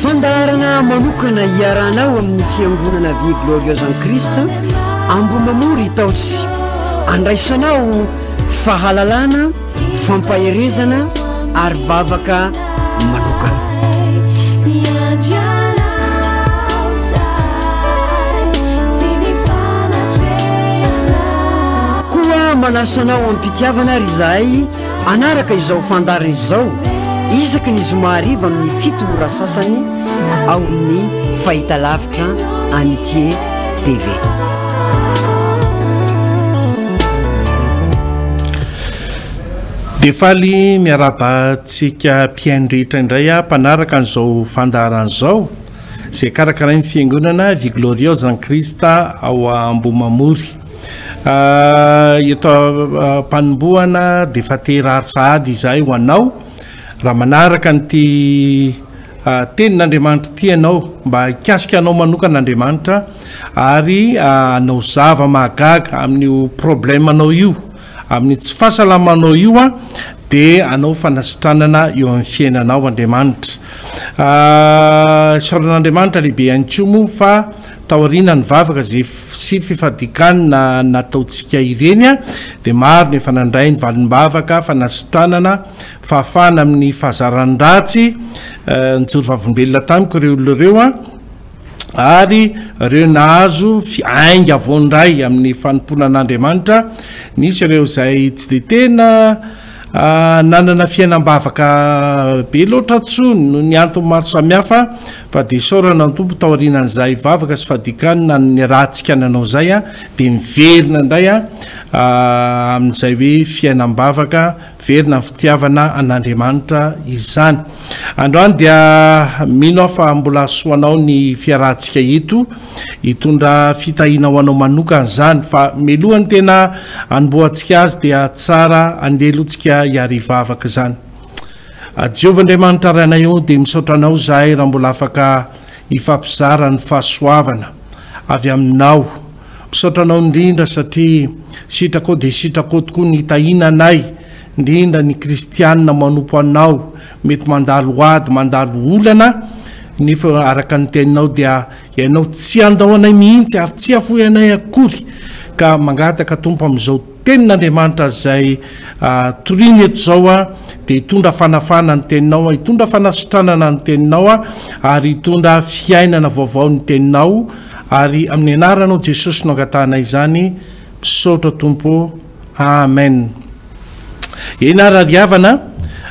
Fandaharana manokana iarahanao amin'ny Fiangonana Vie Glorieuse en Christ Ambohimamory Itaosy. Andraisanao fahalalana, fampaherezana ary vavaka manokana. Koa manasa anao am-pitiavana ary izahay. Hanaraka izao fandaharana izao isaky ny zoma hariva amin'ny fito ora sasany ao amin'ny fahitalavitra Amitié TV. Dia faly miarahaba antsika mpihaino rehetra indray aho mpanaraka an'izao fandaharana izao izay karakarain'ny fiangonana Vigloriosa Christa ao Ambohimamory. Eto am-panombohana dia efa te-hirary sahady izahay ho anao, raha manaraka an'ity tenin'Andriamanitra ity ianao, mba hikasika anao manokana Andriamanitra ary hanao zava-mahagaga amin'io problème anao io, amin'ny tsy fahasalamanao io an, dia hanao fanasitranana eo amin'ny fiainanao Andriamanitra. Isaorana an'Andriamanitra lehibe ihany koa moa fa Taoriana ny vavaka sy fifadikanana nataontsika ireny dia maro ny efa nandray ny valim-bavaka, fanasitranana, fahafahana amin'ny fahazaran-dratsy nijoro vavolombelona tamiko ireo olona ireo ary ireo nahazo ainga vao indray amin'ny fanompoana an'Andriamanitra. Nisy ireo izay tsy dia tena. Nanana fiainam-bavaka be loatra atsy noho ny antony maro samihafa fa dia isaorana ny Tompo taorianan'izay vavaka sy fadikany na ny ratsika nanao izay dia miverina indray amin'izay hoe fiainam-bavaka miverina ny fitiavana an'Andriamanitra izany. Androany dia mino aho fa mbola hahasoa anao ny fiarahantsika eto. Hitondra fitahiana ho anao manokana izany fa melohan'ny tena hanombohantsika azy dia tsara handeha aloha tsika hiara hivavaka izany. Jehovah Andriamanitra Ray anay ô dia misaotra anao izahay raha mbola afaka hifampizara ny fahasoavana avy aminao. Misaotra anao indrindra satria sitrakao dia sitrakao tokoa ny hitahiana anay indrindra ny kristianina manompo anao Mety mandalo ady, mandalo olana, nefa araka ny teninao dia ianao tsy handao anay mihitsy ary tsy hafoy anay akory, ka mangataka Tompo amin'izao tenin'Andriamanitra izay toriany eto izao aho, dia hitondra fanafahana ny teninao, hitondra fanasitranana ny teninao ary hitondra fiainana vaovao ny teninao, ary amin'ny anaranao Jesosy no angatahanay izany, misaotra Tompo. Amen eny ary ry havana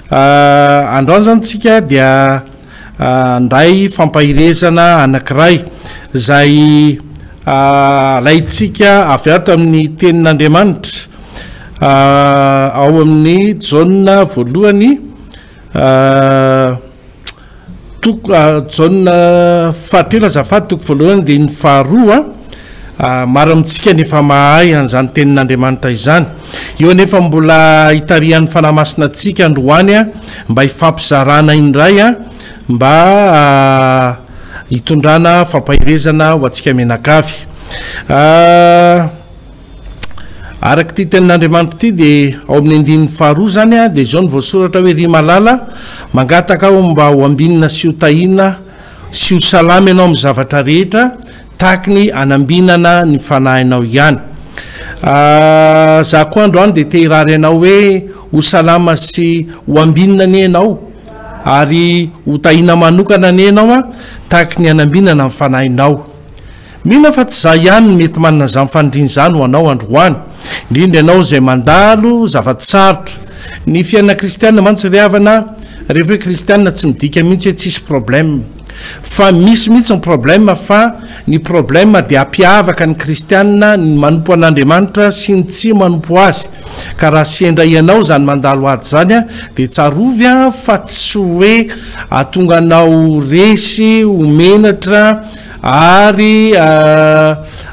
ah, androany zany tsika dia ah, ndray fampahirezana anankiray zay ah, alaitsika avy ato amin'ny tenin'Andriamanitra ah, ao amin'ny jaona voalohany ah, Toko ah, jaona fahatelo azafady, toko voalohany dia ny faharoa ah, maro amintsika ny efa mahay an'izany tenin'Andriamanitra izany. Eo anefa mbola hitarihan'ny Fanahy Masina antsika androany ah, mba hifampizarana indray ah, mba ah, hitondrana fampaherezana ho antsika mianakavy. Ah, Araka ity tenin'Andriamanitra ity dia ao amin'ny andininy faharoa izany a, dia izao no voasoratra hoe, Ry malala, mangataka aho mba ho ambinina sy ho tahiana sy ho salama ianao amin'ny zavatra rehetra, tahaky ny anambinana ny fanahinao ihany. Za koa androany dia te hirary anao hoe, ho salama sy ho ambinina anie ianao, ary ho tahiana manokana anie ianao a, tahaky ny anambinana ny fanahinao. Mino aho fa tsy izaho ihany no mety manana izany faniriana izany ho anao androany, indrindra ianao izay mandalo zava-tsarotra. Ny fiainana kristiana mantsy ry havana, rehefa hoe kristiana tsy midika mihitsy hoe tsisy problème. Fa misy mihitsy ny problème fa ny problème dia hampiavaka ny kristiana ny manompo an'Andriamanitra sy ny tsy manompo Azy. Ka raha sendra ianao izany mandalo ady izany dia tsarovy fa tsy hoe hahatonga anao resy ho menatra, Ary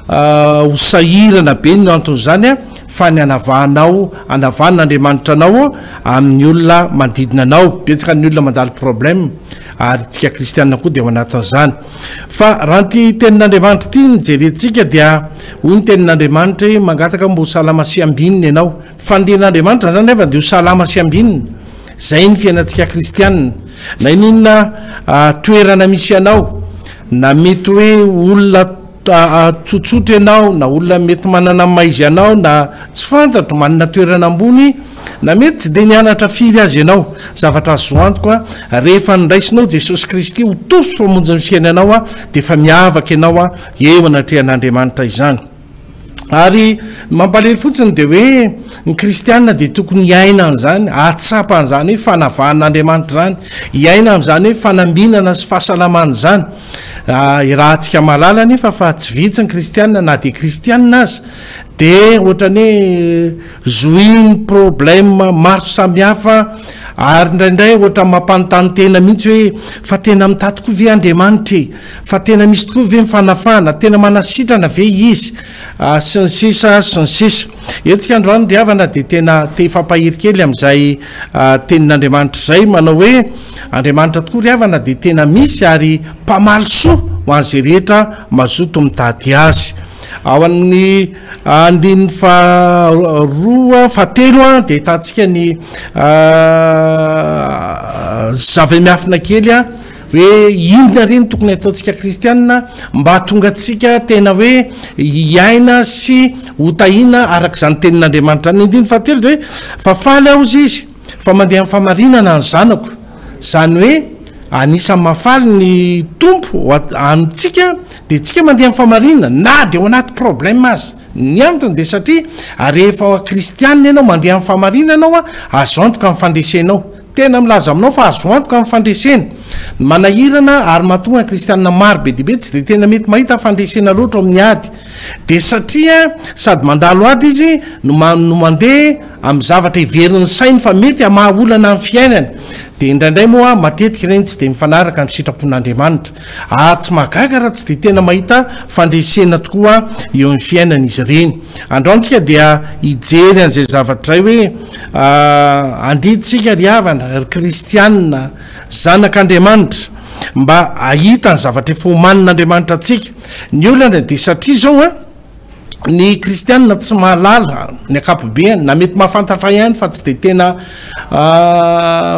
ho sahirana be ny anton'izany, fa ny anavahanao, anavahana Andriamanitra anao amin'ny olona manodidina anao. Betsaka ny olona mandalo problème, ary isika kristiana koa dia ao anatin'izany. Fa raha ity Tenin'Andriamanitra ity no jerentsika, dia hoy ny Tenin'Andriamanitra hoe, Mangataka mba ho salama sy ambinina ianao. Fandrian'Andriamanitra izany anefa dia ho salama sy ambinina. Izay ny fiainantsika kristianina. Na inona toerana misy anao, na mety hoe olona tsotsotra ianao, na olona mety manana ny maha izy anao, na tsy fantatro, manana toerana ambony, na mety tsy dia nianatra firy aza ianao, zavatra azo antoka, rehefa niraisinao Jesosy Kristy ho Tompo sy Mpamonjy ny fiainanao dia efa miavaka ianao eo anatrehan'Andriamanitra izany. Ary ny mampalahelo fotsiny dia hoe ny kristiana dia tokony hiaina an'izany, hahatsapa an'izany hoe fanavahan'Andriamanitra izany, hiaina amin'izany hoe fanambinana sy fahasalamana izany. Ah, irahantsika mahalala anefa fa tsy vitsy ny kristiana na dia kristiana aza dia ohatran'ny hoe zohin'ny problème maro samihafa ary indraindray ohatran'ny mampanontany tena mihitsy hoe fa tena mitady koa ve Andriamanitra e? Fa tena misy tokoa ve ny fanafahana? Tena manasitrana ve izy? sy ny sisa sy ny sisa. Hetsika androany ry havana dia tena te hifampahery kely amin'izay tenin'Andriamanitra izay, manao hoe Andriamanitra tokoa ry havana dia tena misy ary mpamaly soa ho an'izay rehetra mazoto mitady Azy. Ao amin'ny andininy faharoa, fahatelo dia ahitantsika ny zavamiafina kely. Hoe inona re no tokony hataontsika kristianina mba hahatonga antsika tena hoe hiaina sy hotahiana araka izany tenin'Andriamanitra any. Ny andininy fahatelo dia hoe fa faly aho hozy izy fa mandeha amin'ny fahamarinana ny zanako. Izany hoe anisan'ny mahafaly ny Tompo amintsika dia tsika mandeha amin'ny fahamarinana na dia ao anaty problème aza. Ny antony dia satria rehefa kristianina ianao mandeha amin'ny fahamarinana ao azo antoka ny fandresenao. Tena milaza aminao fa azo antoka ny fandresena. Ny manahirana ary mahatonga ny kristianina maro be dia be tsy dia tena mety mahita fandresena loatra ao amin'ny ady dia satria sady mandalo ady izy no no mandeha amin'ny zavatra heverin'ny sainy fa mety hamaha olana amin'ny fiainany. Dia indraindray moa matetika ireny tsy dia mifanaraka amin'ny sitrapon'Andriamanitra. Ary tsy mahagaga raha tsy dia tena mahita fandresena tokoa eo amin'ny fiainany izy ireny. Andao antsika dia hijery an'izay zavatra izay hoe. Aah andrintsika ry havana, ry kristianina, zanak'Andriamanitra mba ahita ny zavatra efa omanin'Andriamanitra antsika. Ny olana dia satria zao an, ny kristianina tsy mahalala ny akapobeany, na mety mahafantatra ihany fa tsy dia tena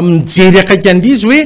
mijery akaiky an'l'izy hoe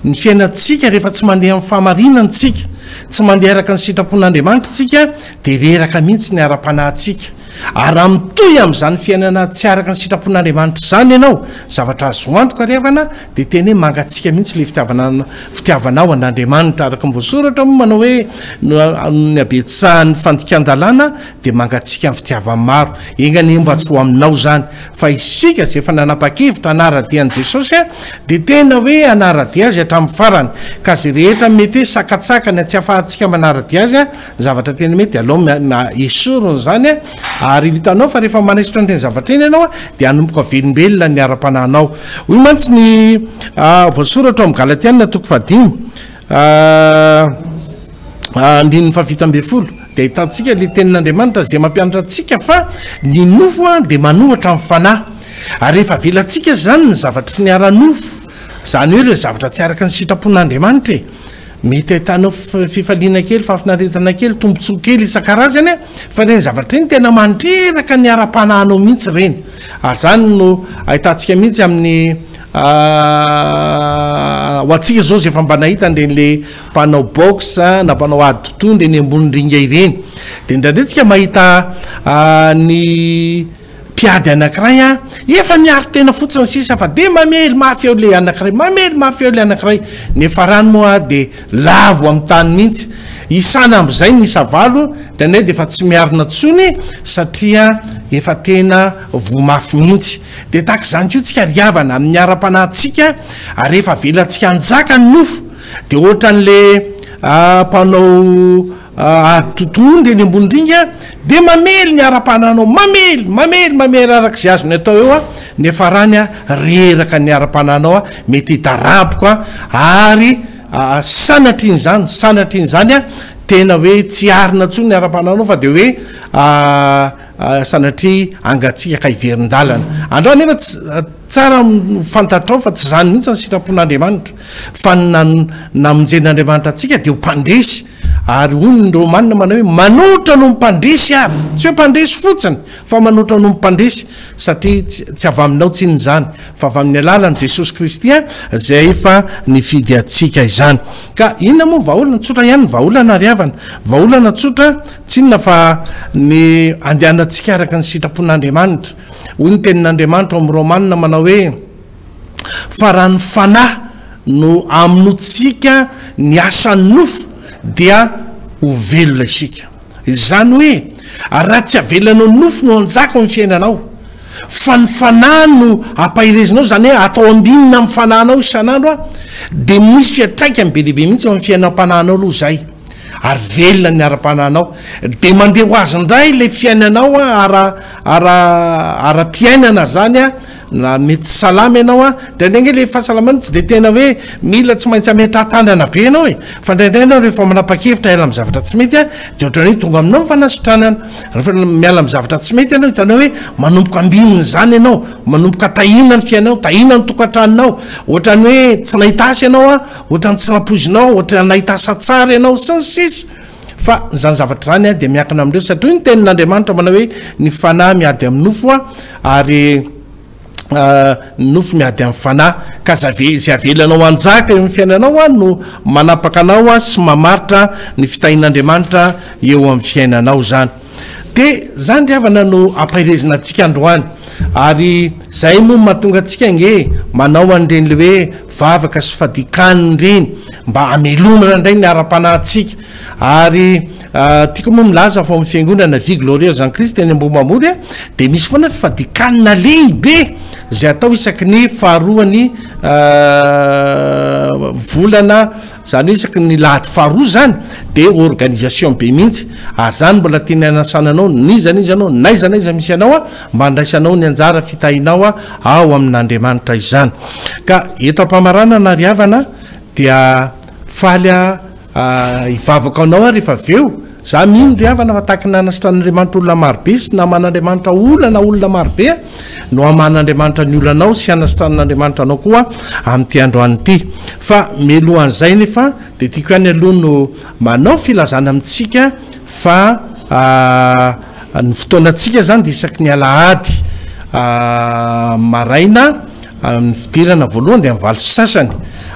ny fiainantsika rehefa tsy mandeha amin'ny fahamarinana tsika, tsy mandeha araka ny sitrapon'Andriamanitra tsika dia reraka mihitsy ny ara-panahintsika. Ary raha mitohy amin'izany fiainana tsy araka ny sitrapon'Andriamanitra izany ianao, zavatra azo antoka ry havana, dia tena hoe mangatsiaka mihitsy ilay fitiavana, fitiavanao an'Andriamanitra. Araka ny voasoratra moa manao hoe, noho ny habetsahan'ny fandikan-dalàna dia mangatsiaka ny fitiavan'ny maro. Enga anie mba tsy ho aminao izany. Fa isika izay efa nanapa-kevitra hanara-dia an'i Jesosy dia tena hoe hanara-dia Azy hatramin'ny farany. Ka izay rehetra mety hoe sakatsakany tsy ahafahantsika manara-dia Azy, zavatra tena mety dia alao na esory ny zany a ary vitanao fa rehefa manesotra n'ireny zavatra eny ianao a dia hanomboka velombelona ny ara-panahinao hoy mantsy ny ah, voasoratra ao amin'ny galatianina toko fahadimy ah, ah, andininy fahafito ambin'ny folo dia ahitantsika le tenin'andriamanitra izay mampianatra antsika fa ny nofo a dia manohatra amin'ny fanahy ary rehefa avelantsika izany ny zavatra tsy niara-nofo izany hoe ireo zavatra tsy araka ny sitrapon'andriamanitra e Mety ahitanao fifaliana kely, fahafinaretana kely, tombontsoa kely isan-karazany an! Fa ireny zavatra ireny tena mandreraka ny ara-panahinao mihitsy ireny. Ary izany no ahitantsika mihitsy amin'ny ho antsika izao izay efa mba nahita an'ireny mpanao boxe na mpanao ady totohondry eny ambony ringa ireny. Dia indraindray tsika mahita ny. Mpiady anankiray a! Efa miaro tena fotsiny sisa fa dia mamely mafy eo le anankiray, mamely mafy eo le anankiray. Ny farany moa dia lavo amin'ny tany mihitsy. Isana am'zay ny isa valo, dia anay dia efa tsy miarina tsony satria efa tena voa mafy mihitsy. Dia tahaka izany koa tsika ry havana amin'ny ara-panahy tsika ary rehefa avelantsika hanjaka ny nofo dia ohatran'le mpanao Ary totohondry eny ambony ringa dia mamely ny ara-pananao, mamely, mamely, mamely araka izay azony atao eo, ny farany reraka ny ara-pananao, mety hidaraboka ary sanatrin'izany, sanatrin'izany tena hoe tsy arina intsony ny ara-pananao fa dia hoe sanatria hangatsiaka hiverin-dalana. Andrao anefa tsara fantatrao fa tsy izany mihitsy ny sitrapon'Andriamanitra, fa ny namonjen'Andriamanitra antsika dia ho mpandresy, Ary hoy ny Romana manao hoe, Manoatra noho ny mpandresy ary. Tsy hoe mpandresy fotsiny, fa manoatra noho ny mpandresy, satria tsy avy aminao tsinona izany, fa avy amin'ny alalan'i Jesosy Kristy izay efa nifidy antsika izany. Ka inona moa ny vahaolana? Tsotra ihany ny vahaolana, ry havana. Vahaolana tsotra, tsy inona fa ny andehanantsika araka ny sitrapon'Andriamanitra. Hoy ny Tenin'Andriamanitra ao amin'ny Romana manao hoe, fa raha ny Fanahy no amonoantsika ny asan'ny nofo dia ho velona isika. Izany hoe raha tsy avelanao ny nofo no hanjaka ao amin'ny fiainanao fa ny Fanahy no ampaherezinao, izany hoe atao ambinina amin'ny Fanahinao isan'andro dia misy fiantraikany be dia be mihitsy ao amin'ny fiainam-panahinao aloha izay ary velona ny ara-panahinao dia mandeha ho azy indray ilay fiainanao ara ara ara-piainana izany Na mety salama ianao an, indraindray nge le fahasalamana tsy dia tena hoe mila tsy maintsy ametrahan-tanana be ianao e, fa indraindray ianao rehefa manapa-kevitra hiala amin'ny zavatra tsy mety an, dia ohatran'ny hoe tonga aminao ny fanasitranana, rehefa miala amin'ny zavatra tsy mety ianao hitanao hoe manomboka ambinina izany ianao, manomboka tahiana ny fiainanao, tahiana ny tokantranonao, ohatran'ny hoe tsy nahita asa ianao an, ohatran'ny tsy nampoizinao, ohatran'ny nahita asa tsara ianao, sy ny sisa. Fa izany zavatra izany dia miankina amin'ireo, satria hoy ny tenin'Andriamanitra manao hoe ny fanahy miady amin'ny nofo ary ny nofo miady amin'ny fanahy. Ka izay avelanao hanjaka eo amin'ny fiainanao no manapaka anao sy mamaritra ny fitahian'Andriamanitra eo amin'ny fiainanao izany. Dia izany ry havana no ampaherezina antsika androany. Ary izay moa no mahatonga antsika ange manao an'ireny ilay hoe vavaka sy fadikany ireny mba hamelomana indray ny ara-panahintsika. Ary tiako moa milaza fa ao amin'ny fiangonana Vie Glorieuse en Christ eny Ambohimamory a, dia misy foana fadikanina lehibe izay atao isaky ny faharoan'ny volana. Zany hoe isaky ny lahady faharoa zany de organisation be mihitsy ary zany mbola tiany hanasana anao n'iza n'iza anao n'aiza n'aiza misy anao a mba andraisanao ny anjara fitahinao a ao amin'Andriamanitra izany ka eto ampamaranana ry havana dia faly a hivavaka anao aho rehefa avy eo Za mino ry havana fa tahaka ny nanasitra an'Andriamanitra olona marobe sy naman'Andriamanitra olana olona marobe no haman'Andriamanitra ny olanao sy hanasitranan'Andriamanitra anao koa amin'ity androany ity. Fa mialohan'izay nefa dia tiako ihany aloha no manao filazana amintsika fa ny fotoanantsika zany dia isaky ny alahady maraina ny fidirana voalohany dia amin'ny valo sy sasany.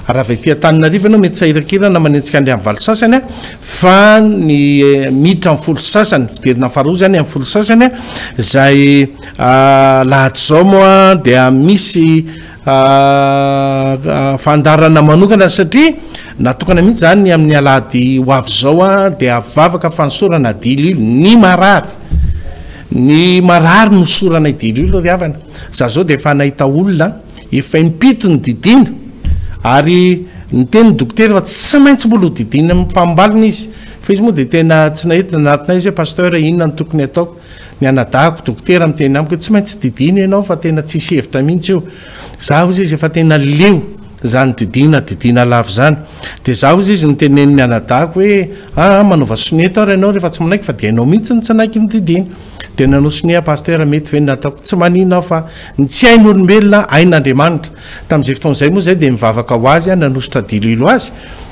Raha avy aty Antananarivo ianao mety sahirakirana manenjika an'ilay amin'ny valo sy sasany a! Fa ny miditra amin'ny folo sy sasany, fidirana faharoa izany amin'ny folo sy sasany, izay lahad'izao moa dia misy fandaharana manokana satria natokana mihitsy izany ny amin'ny alahady ho avy izao dia vavaka fanosorana dilily ny marary, ny marary nosorana i dilily ry havana, izaho izao dia efa nahita olona, Efa impito ny didiana ary niteny ny dokotera fa tsy maintsy mbola ho didiana amin'ny fahambaliny izy fa izy moa dia tena tsy nahita ny anatiny izy hoe pasteur e inona no tokony ataoko? ny anadahako dokotera miteny amiko hoe tsy maintsy didiana ianao fa tena tsisy hevitra mihitsy io za hozy izy efa tena leo izany didiana didiana lava izany dia za hozy izy niteneniny anadahako hoe aa manaova sonia ataoro ianao rehefa tsy manaiky fa dia ianao mihitsy no tsy hanaiky ny didiana Dia nanao sonia aho Pasteur, mety ve ny nataoko? Tsy manina aho fa ny tsy hain'olombelona hain'Andriamanitra. Tamin'izay fotoana izay moa izay dia nivavaka ho azy aho, nanosotra diloilo azy,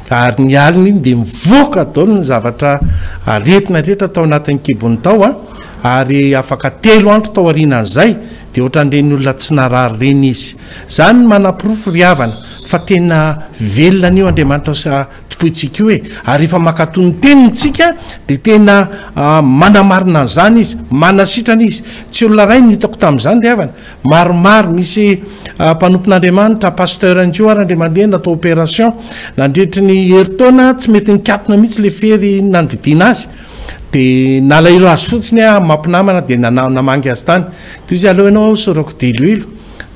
ary ny alina iny dia nivoaka daholo ny zavatra aretina rehetra tao anatin'ny kibony tao an, ary afaka telo andro tao aorianan'izay dia ohatran'ireny olona tsy narary ireny izy. Izany no manaporofo ry havana fa tena velona anio Andriamanitra sy Tompointsika io e! Ary rehefa mankatò ny Teniny tsika dia tena manamarina an'izany Izy, manasitrana Izy. Tsy olona iray no hitako tamin'izany ry havana, maromaro. Misy mpanompon'Andriamanitra, pasteur indry io ary indray mandeha natao opération. Nandritry ny herintaona tsy mety nikatona mihitsy ilay fery nandidiana azy. Dia nalahelo azy fotsiny aho mampinamana dia nana, namangy azy tany. Toy izay aleo ianao aho hosorako diloilo.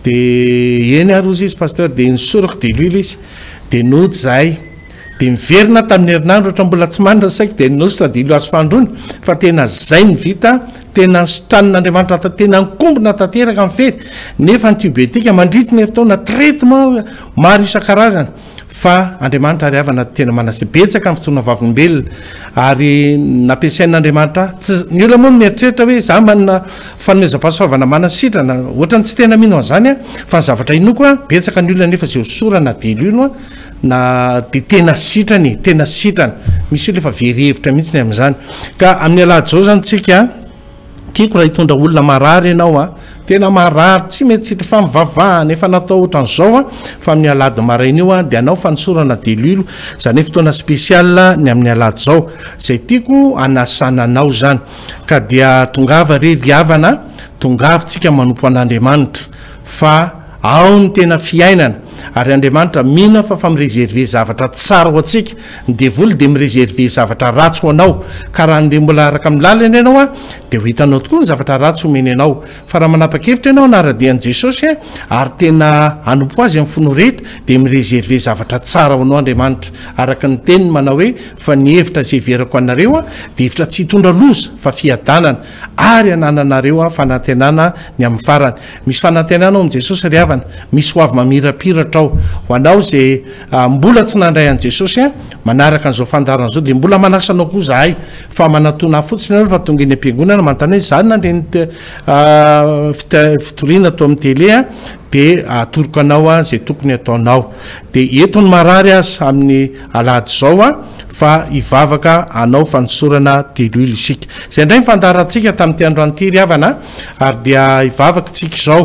Dia eny ary hozy izy, pasteur, dia nosorako diloilo izy. Dia nody izahay. Dia niverina tamin'ny herinandro ohatra mbola tsy manana ny saiko dia ninoso tadilo azy fandroana fa tena izay ny vita tena nositranin'Andriamanitra tao tena nikombona tanteraka ny fery nefa antibiotika mandritry ny herintaona traitement maro isan-karazany fa Andriamanitra ary havana tena manase betsaka ny fitsoana vavolombelona ary nampiasain'Andriamanitra ahy tsy ny olona moa no mieritreritra hoe za manana Fanomezam-pahasoavana manasitrana, ohatrany tsy tena mino an'izany aho fa ny zavatra inoako a, betsaka ny olona nefa izay ho sorana na dia lino a, na dia tena sitrana e, tena sitrana, misy olona efa very hevitra mihitsy ny amin'izany, ka amin'ny alahadizao izany tsika a, tiako raha hitondra olona marary ianao a, tena marary tsy mety sitrana fa mivavahana efa natao ohatran'izao a, fa amin'ny alahady maraina io a dia anao fanosora na dia lilo, izany hoe fotoana spécial ny amin'ny alahady izao, izay tiako hanasana anao izany. Ka dia tongava re ry havana a, tongava tsika manompo an'Andriamanitra fa ao ny tena fiainana, ary Andriamanitra mino aho fa fa mi-reserver zavatra tsara ho antsika, ny devoly dia mi-reserver zavatra ratsy ho anao, ka raha andeha mbola araka amin'ny lalany ianao a, dia ho hitanao tokoa ny zavatra ratsy omeny anao. Fa raha manapa-kevitra ianao hanara-dia an'i Jesosy ary tena hanompo Azy amin'ny fo noreta, dia mi-reserver zavatra tsara ho anao Andriamanitra, araka ny Teniny manao hoe, Fa ny hevitra izay heverako anareo dia hevitra tsy hitondra loza, fa fiadanana, ary hanananareo fanantenana ny amin'ny farany. Misy fanantenana ao amin'i Jesosy ry havana. Misy hoavy mamirapiratra ao ho anao izay. Mbola tsy nandray an'i Jesosy an! Manaraka an'izao fandaharana izao dia mbola manasa anao koa zahay fa manatona ahy fotsiny ianao rehefa tonga eny am-piangonana manontany hoe za nandre ny fitoriana tao amin'ny tele an! dia atoroko anao an! izay tokony ataonao dia eto ny marary aza amin'ny alahady izao an! fa hivavaka hanao fanosorana delile isika. Izay indray ny fandaharantsika tamin'ity androany ity ry havana a! ary dia hivavaka isika izao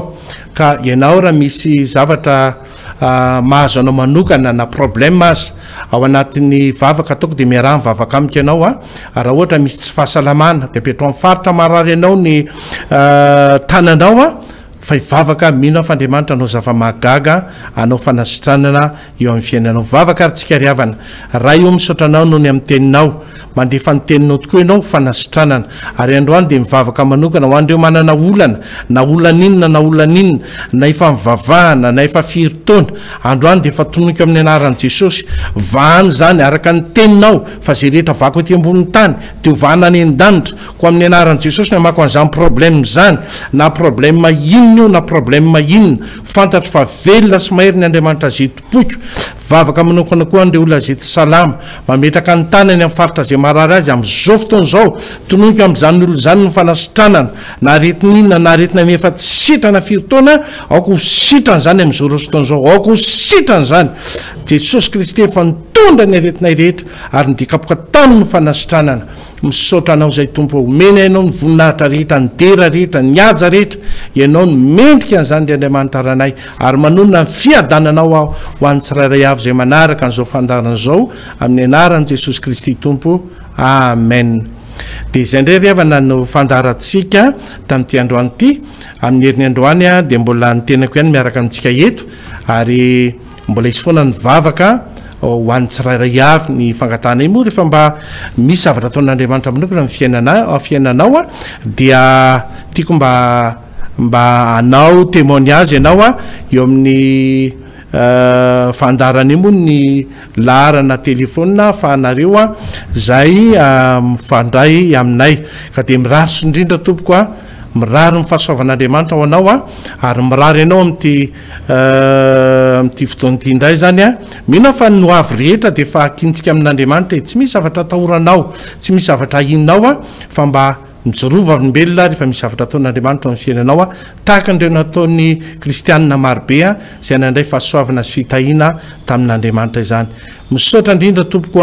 ka ianao raha misy zavatra mahazo anao manokana na problème aza ao anatin'ny vavaka ataoko dia miaraha mivavaka amiko ianao a ah. raha ohatra misy tsy fahasalamana dia apetrao amin'ny faritra marary anao ny ah, tananao a ah. fa hivavaka mino aho fa andriamanitra anao zava-mahagaga anao fanasitranana eo amin'ny fiainanao vavaka ary tsika ry havana raha io misaotra anao noho ny amin'ny teninao Mandefa ny teninao tokoa ianao fanasitranana. Ary androany dia mivavaka manokana ho an'ireo manana olana, na olana inona na olana inona, na efa nivavahana, na efa firy taona. Androany dia efa tonoiko amin'ny anaran'i Jesosy. Vahana izany araka ny teninao fa izay rehetra vako ety ambonin'ny tany dia ho vahana any an-danitra. Koa amin'ny anaran'i Jesosy no amako an'izany problème izany. Na problème inona io na problème inona. Fantatro fa velona sy mahery ny Andriamanitra Zto. Poiko. Vavaka manokana koa an'ireo olona izay tsy salama. Mametraka ny tany any amin'ny faritra izay marary azy amin'izao fotoana izao. Tononiko amin'izany olona izany ny fanasitranana. Na aretina inona na aretina ny efa tsy sitrana firy taona, aoka ho sitrana izany amin'izao roa fotoana izao. Aoka ho sitrana izany. Jesosy Kristy efa nitondra ny aretinay rehetra ary ny dikapoka taminy ny fanasitranana. Misaotra anao zay Tompo ô, omena ianao ny voninahitra rehetra, ny dera rehetra, ny haja rehetra, ianao no mendrika an'izany ry Andriamanitra Ranay, ary manonona ny fiadananao aho ho an'ny tsirairay avy izay manaraka an'izao fandaharana izao amin'ny anaran'i Jesosy Kristy Tompo, Amen. Dia izay indray ry havana no fandaharantsika tamin'ity androany ity, amin'ny herin'ny androany dia mbola ny tenako ihany miaraka amintsika eto, ary. Mbola hisy foana ny vavaka ho an'ny tsirairay avy. Ny fangatahanay moa rehefa mba misy zavatra ataon'Andriamanitra manokana ny fiainana fiainanao a dia tiako mba mba hanao témoignage ianao a eo amin'ny fandaharanay moa ny laharana téléphone ahafahanareo a zay mifandray aminay ka dia mirary soa indrindra tompoko a mirary ny fahasoavan'Andriamanitra ho anao a ary mirary anao amin'ity Amin'ity fotoana ity indray izany, mino aho fa ny ho avy rehetra dia efa hakintsika amin'Andriamanitra e! Tsy misy zavatra atahoranao, tsy misy zavatra ahianao fa mba mijoroa vavolombelona rehefa misy zavatra ataon'Andriamanitra ao amin'ny fiainanao, tahaka an'ireo nataon'ny kristianina marobe izay nandray fahasoavana sy fitahiana tamin'Andriamanitra izany. Misaotra indrindra tompoko